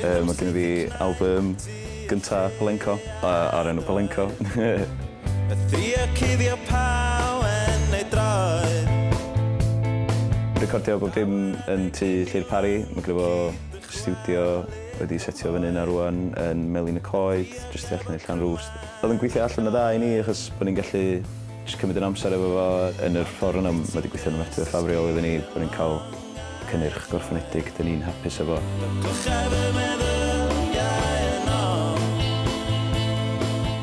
Um, mae gen i fi album gynta Palenco, uh, ar enw Palenco. y thria cuddio pawen neu droed. Recordio bob dim yn tu Llyr Pari, mae gyda fo stiwdio wedi setio fyny 'na rŵan yn Melin y Coed, jyst tu allan i Llanrwst. O'dd yn gweithio allan yn dda i ni achos bo' ni'n gallu jyst cymryd ein amser efo fo yn yr ffor yna ma' 'di gweithio'n ofnadwy o ffafriol iddyn ni, bo' ni'n ca'l cynnyrch gorffenedig 'dyn ni'n hapus efo.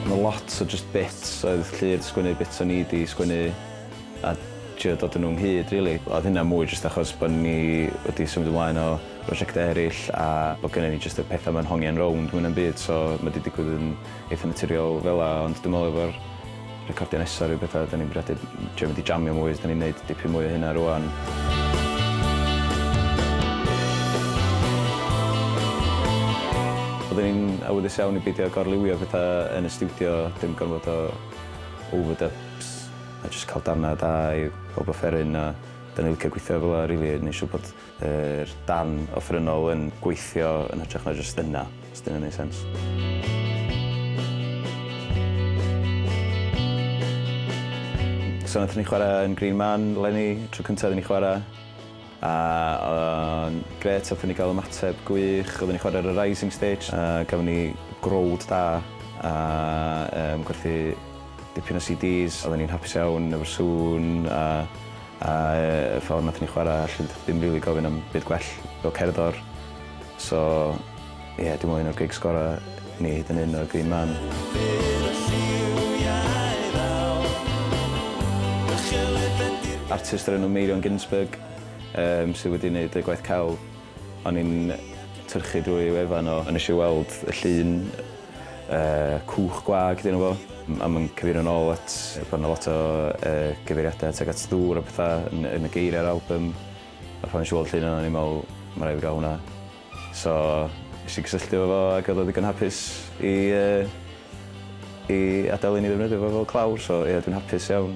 Ma' lot o jyst bits oedd Llu 'di sgwennu bits o'n i 'di sgwennu. a trio dod â nhw ynghyd rili. Oedd hynna mwy jyst achos bod ni wedi symud ymlaen o brosiectau eraill a bod gynnon ni jyst y pethau 'ma'n hongian rownd mwy na'm byd so ma' 'di digwydd yn eitha' naturiol fel 'na ond dwi'n meddwl efo'r recordio nesa ryw betha 'dan ni'n bwriadu trio mynd i jamio mwy 'dan ni'n neud dipyn mwy o hynna rŵan. Oedden ni'n awyddus iawn i beidio gorliwio petha yn y stiwdio dim gormod o overdubs. a jyst cael darnau da i bawb offeryn a 'dan ni'n licio gweithio fel 'a rili a neu' siŵr bod yr darn offerynnol yn gweithio yn hytrach na jyst yna, os 'di wnna'n neu' sense. So nathon ni chwara yn Green Man leni, tro cynta' i ni chwara'. A o'n grêt, aethon ni gael ymateb gwych, oedden ni'n chwarae ar y rising stage a gafon ni growd da a yym gwerthu dipyn o CDs, oedden ni'n hapus iawn efo'r sŵn a a yy y ffordd nathon ni chwarae, allwn ni ddim rili gofyn am byd gwell fel cerddor so Ie, dim ond un o'r gigs gorau i ni hyd yn hyn oedd Green Man. Artist o'r enw Meirion Ginsberg yym sydd wedi wneud y gwaith celf. O'n i'n tyrchu drwy ei wefan o a wnes i weld y llun yy cwch gwag 'di enw fo a mae'n cyfeirio'n ôl at bod 'na lot o yy gyfeiriadau tuag at ddŵr a petha yn yn y geiriau'r albym a phan wnes i weld y llun yna o'n i'n meddwl ma' raid fi gael hwnna. So, nes i gysylltu efo fo ac oedd o ddigon hapus i yy i adael i ni ddefnyddio fo fel clawr, so ie dwi'n hapus iawn.